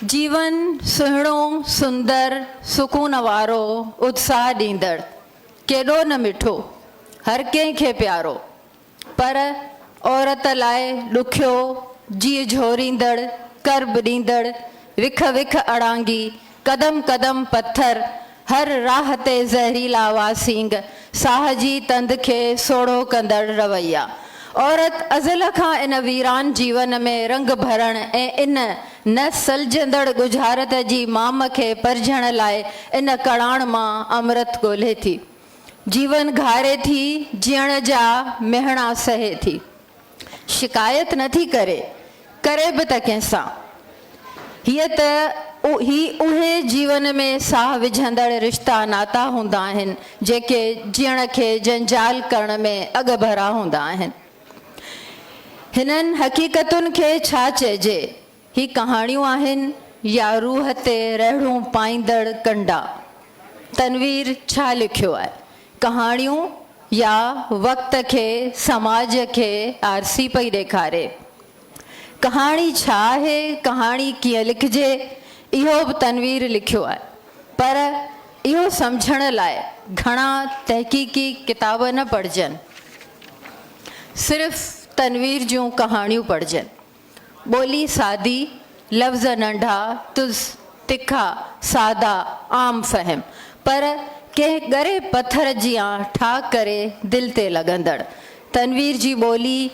جيون سهڻو، سندر، سڪون وارو، اتساهه ڏيندڙ، ڪيڏو نه مٺو، هر ڪنهن کي پيارو، پر عورت لاء ڏکيو، جيء جهوريندڙ، ڪرب ڏيندڙ، وک وک اڙانگي، قدم قدم پٿر، هر راهه تي زهريلا واسينگ، ساهه جي تند کي سوڙهو ڪندڙ رويا. عورت ازل کان ان ويران جيون ۾ رنگ ڀرڻ ۽ ان نه سلجهندڙ ڳجهارت جي مام کي پرجهڻ لاء ان ڪڙاڻ مان امرت ڳولهي ٿي. جيون گهاري ٿي، جيئڻ جا مهڻا سهي ٿي. شڪايت نه ٿي ڪري، ڪري به ته ڪنهن سان؟ هيء ته هي اهي جيون ۾ ساهه وجهندڙ رشتا ناتا هوندا آهن، جيڪي جيئڻ کي جنجال ڪرڻ ۾ اڳڀرا هوندا آهن. هنن حقيقتن کي ڇا چئجي؟ هي ڪهاڻيون آهن يا روح تي رهڙون پائيندڙ ڪنڊا؟ تنوير ڇا لکيو آهي؟ ڪهاڻيون يا وقت کي سماج کي آرسي پئي ڏيکاري؟ ڪهاڻي ڇا آهي؟ ڪهاڻي ڪيئن لکجي؟ اهو به تنوير لکيو آهي. پر اهو سمجهڻ لاء گهڻا تحقيقي ڪتاب نه پڙهجن. صرف تنوير جون ڪهاڻيون پڙهجن. ٻولي سادي، لفظ ننڍا، تلس، تکا، سادا، عام فهم، پر ڪنهن ڳري پٿر جيان ٺاهه ڪري دل تي لڳندڙ. تنوير جي ٻولي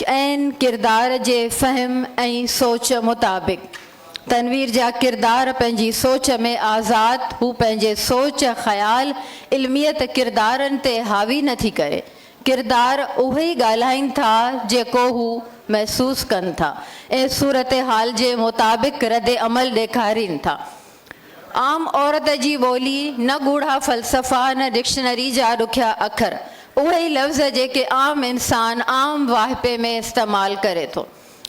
عين ڪردار جي فهم ۽ سوچ مطابق. تنوير جا ڪردار پنهنجي سوچ ۾ آزاد، هو پنهنجي سوچ، خيال، علميت ڪردارن تي حاوي نه ٿي ڪري، ڪردار اهو ئي ڳالهائين ٿا جيڪو هو محسوس ڪن ٿا ۽ صورتحال جي مطابق رد عمل ڏيکارين ٿا. عام عورت جي ٻولي نه ڳوڙها فلسفا نه ڊڪشنري جا ڏکيا اکر، اهي ئي لفظ جيڪي عام انسان عام واهپي ۾ استعمال ڪري ٿو.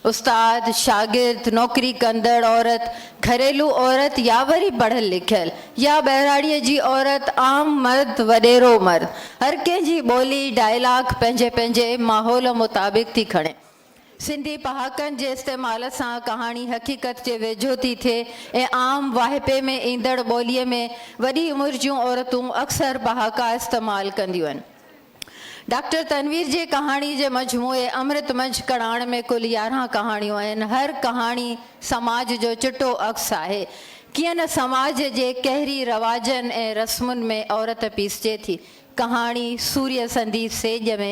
استاد، شاگرد، نوڪري ڪندڙ عورت، گهريلو عورت يا وري پڙهيل لکيل يا ٻهراڙيء جي عورت، عام مرد، وڏيرو مرد، هر ڪنهن جي ٻولي، ڊائلاگ، پنهنجي پنهنجي ماحول مطابق ٿي کڻي. سنڌي پهاڪن جي استعمال سان ڪهاڻي حقيقت جي ويجهو ٿي ٿئي ۽ عام واهپي ۾ ايندڙ ٻوليء ۾ وڏي عمر جون عورتون اڪثر پهاڪا استعمال ڪنديون آهن. ڊاڪٽر تنوير جي ڪهاڻي جي مجموعي امرت منجهه ڪڙاڻ ۾ ڪل يارهن ڪهاڻيون آهن. هر ڪهاڻي سماج جو چٽو عڪس آهي. ڪيئن نه سماج جي قهري رواجن ۽ رسمن ۾ عورت پيسجي ٿي. ڪهاڻي سوريه سندي سيڄ ۾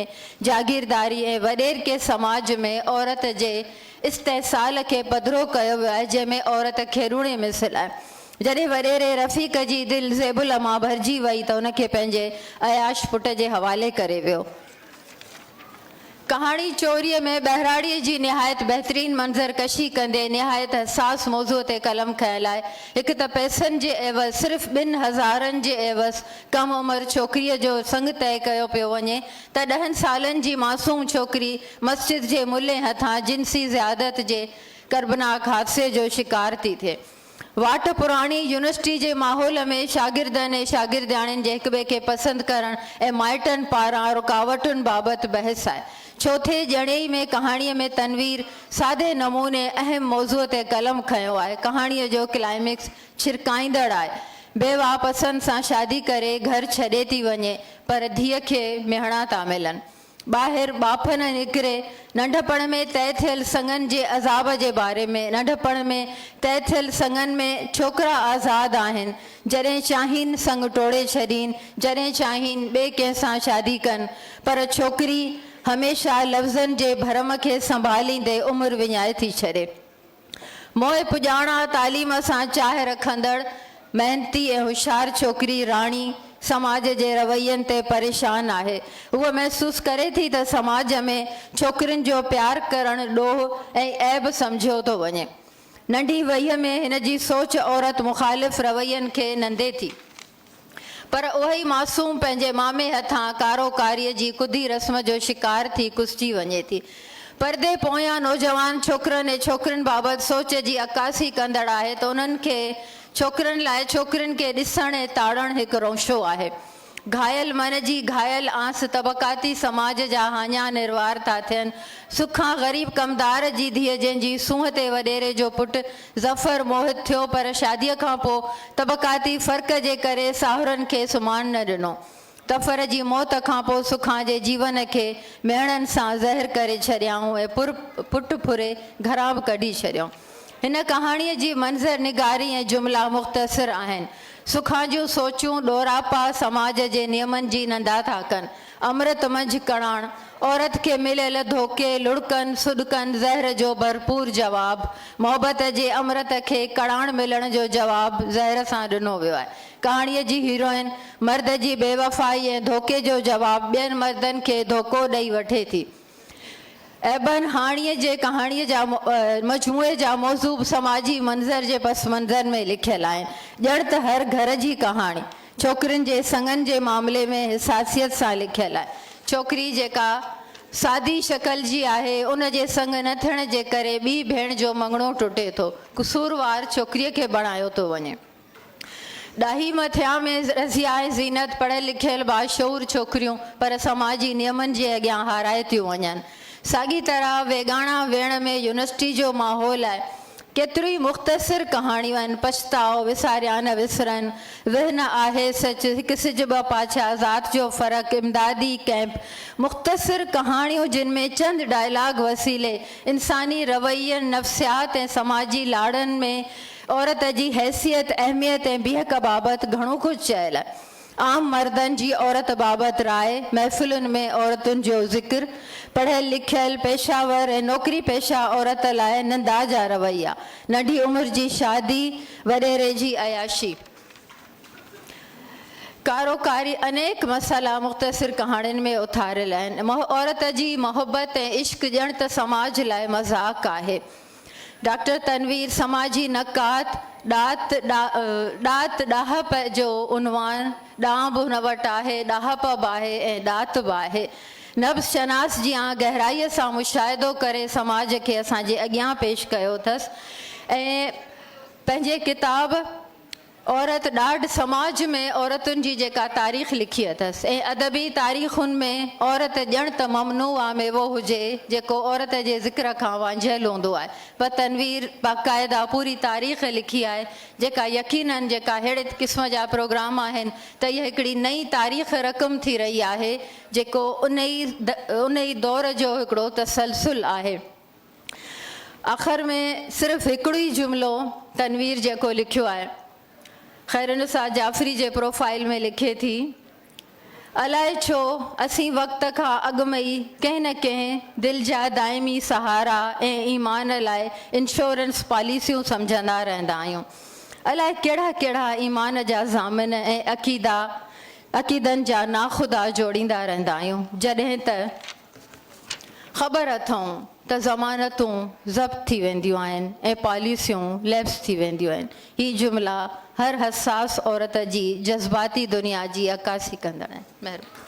جاگيرداري ۽ وڏيرڪي سماج ۾ عورت جي استحصال کي پڌرو ڪيو ويو آهي جنهن ۾ عورت کيڏوڻي مثل آهي. جڏهن وڏيري رفيق جي دل زيب العميٰ ڀرجي وئي ته ان کي پنهنجي عياش پٽ جي حوالي ڪري ويو. ڪهاڻي چوريء ۾ ٻهراڙيء جي نهايت بهترين منظر ڪشي ڪندي نهايت حساس موضوع تي قلم کنئڻ لاء هڪ ته پئسن جي عيوض صرف ٻن هزارن جي عيوض ڪم عمر ڇوڪريء جو سڱ طئي ڪيو پيو وڃي ته ڏهن سالن جي معصوم ڇوڪري مسجد جي ملي هٿان جنسي زيادت جي ڪربناڪ حادثي جو شڪار ٿي ٿئي. واٽ پراڻي يونيورسٽي جي ماحول ۾ شاگردن ۽ شاگردياڻين جي هڪٻئي کي پسند ڪرڻ ۽ مائٽن پاران رڪاوٽن بابت بحث آهي. چوٿين ڄڻي ۾ ڪهاڻيء ۾ تنوير سادي نموني اهم موضوع تي قلم کنيو آهي. ڪهاڻيء جو ڪلائمڪس ڇرڪائيندڙ آهي. بيواهه پسند سان شادي ڪري گهر ڇڏي ٿي وڃي پر ڌيء کي مهڻا ٿا ملن. ٻاهر ٻاڦن نڪري، ننڍپڻ ۾ طئي ٿيل سڱن جي عذاب جي باري ۾، ننڍپڻ ۾ طئي ٿيل سڱن ۾ ڇوڪرا آزاد آهن، جڏهن چاهين سڱ ٽوڙي ڇڏين، جڏهن چاهين ٻئي ڪنهن سان شادي ڪن، پر ڇوڪري هميشه لفظن جي ڀرم کي سنڀاليندي عمر وڃائي ٿي ڇڏي. موهي پڄاڻا تعليم سان چاهه رکندڙ، محنتي ۽ هوشيار ڇوڪري راڻي سماج جي روين تي پريشان آهي. هوء محسوس ڪري ٿي ته سماج ۾ ڇوڪرين جو پيار ڪرڻ ڏوهه ۽ عيب سمجهيو ٿو وڃي. ننڍي وهيء ۾ هن جي سوچ عورت مخالف روين کي نندي ٿي. پر اهوئي معصوم پنهنجي مامي هٿان ڪارو ڪاريء جي ڪڌي رسم جو شڪار ٿي ڪسجي وڃي ٿي. پردي پويان نوجوان ڇوڪرن ۽ ڇوڪرين بابت سوچ جي عڪاسي ڪندڙ آهي ته انهن کي ڇوڪرن لاء ڇوڪرين کي ڏسڻ ۽ تاڙڻ هڪ رونشو آهي. گهايل من جي گهايل آنس طبقاتي سماج جا هاڃا نروار ٿا ٿين. سک کان غريب ڪمدار جي ڌيء جنهن جي سونهن تي وڏيري جو پٽ ظفر موهت ٿيو پر شاديء کان پوء طبقاتي فرق جي ڪري ساهرن کي سمهڻ نه ڏنو. ظفر جي موت کان پوء سکان جي جيون کي ميڻن سان زهر ڪري ڇڏيائون ۽ پر پٽ ڦري گهران به ڪڍي ڇڏيو. هن ڪهاڻيء جي منظر نگاري ۽ جملا مختصر آهن. سکان جون سوچون ڏوراپا سماج جي نيمن جي نندا ٿا ڪن. امرت منجهه ڪڻاڻ عورت کي مليل ڌوڪي، لڙڪن، سڏڪن، زهر جو ڀرپور جواب، محبت جي امرت کي ڪڻاڻ ملڻ جو جواب زهر سان ڏنو ويو آهي. ڪهاڻيء جي هيروئن مرد جي بيوفائي ۽ ڌوڪي جو جواب ٻين مردن کي ڌوڪو ڏئي وٺي ٿي. ابن هاڻيء جي ڪهاڻيء جا مجموعي جا موضوع به سماجي منظر جي پس منظر ۾ لکيل آهن. ڄڻ ته هر گهر جي ڪهاڻي، ڇوڪرين جي سڱن جي معاملي ۾ حساسيت سان لکيل آهي. ڇوڪري جيڪا سادي شڪل جي آهي، ان جي سڱ نه ٿيڻ جي ڪري ٻي ڀيڻ جو مڱڻو ٽٽي ٿو. قصوروار ڇوڪريء کي بڻايو ٿو وڃي. ڏاهي مٿيان ۾ رسي آهي زينت پڙهيل لکيل باشعور ڇوڪريون پر سماجي نيمن جي اڳيان هارايو ٿيون وڃن ساڳي طرح ويڳاڻا ويڻ ۾ يونيورسٽي جو ماحول آهي ڪيتريون ئي مختصر ڪهاڻيون آهن پڇتاء وساريان نه وسرن ويهه نه آهي سچ هڪ سج ٻه پاڇا ذات جو فرق امدادي ڪئمپ مختصر ڪهاڻيون جن ۾ چند ڊائلاگ وسيلي انساني روين نفسيات ۽ سماجي لاڙن ۾ عورت جي حيثيت، اهميت ۽ بيهڪ بابت گهڻو ڪجهه چيل. عام مردن جي عورت بابت راء، محفلن ۾ عورتن جو ذڪر، پڙهيل لکيل، پيشه ور ۽ نوڪري پيشه عورت لاء نندا جا رويا، ننڍي عمر جي شادي، وڏيري جي عياشي، ڪارو ڪاري انيڪ مسئلا مختصر ڪهاڻين ۾ اٿاريل آهن. عورت جي محبت ۽ عشق ڄڻ ته سماج لاء مذاق آهي. ڊاڪٽر تنوير سماجي نقاد ڏات، ڏات ڏاهپ جو عنوان ڏانء به هن وٽ آهي، ڏاهپ به آهي ۽ ڏات به آهي. نبض شناس جيان گهرائيء سان مشاهدو ڪري سماج کي اسان جي اڳيان پيش ڪيو اٿس ۽ پنهنجي ڪتاب عورت ڏاڍ سماج ۾ عورتن جي جيڪا تاريخ لکي اٿس ۽ ادبي تاريخن ۾ عورت ڄڻ ته ممنوع آ ميوو هجي جيڪو عورت جي ذڪر کان وانجهيل هوندو آهي پر تنوير باقاعده پوري تاريخ لکي آهي جيڪا يقينن جيڪا ههڙي قسم جا پروگرام آهن ته اها هڪڙي نئين تاريخ رقم ٿي رهي آهي جيڪو انهي انهي دور جو هڪڙو تسلسل آهي. اخر ۾ صرف هڪڙو ئي جملو تنوير جيڪو لکيو آهي. خيرالنساء جعفري جي پروفائيل ۾ لکي ٿي، الائي ڇو اسين وقت کان اڳ ۾ ئي ڪنهن نه ڪنهن دل جا دائمي سهارا ۽ ايمان لاء انشورنس پاليسيون سمجهندا رهندا آهيون. الائي ڪهڙا ڪهڙا ايمان جا ضامن ۽ عقيدا عقيدن جا ناخدا جوڙيندا رهندا آهيون، جڏهن ته. خبر اٿئون ته ضمانتون ضبط ٿي وينديون آهن ۽ پاليسيون ليپس ٿي وينديون آهن. هي جملا هر حساس عورت جي جذباتي دنيا جي عڪاسي ڪندڙ آهن. مهرباني.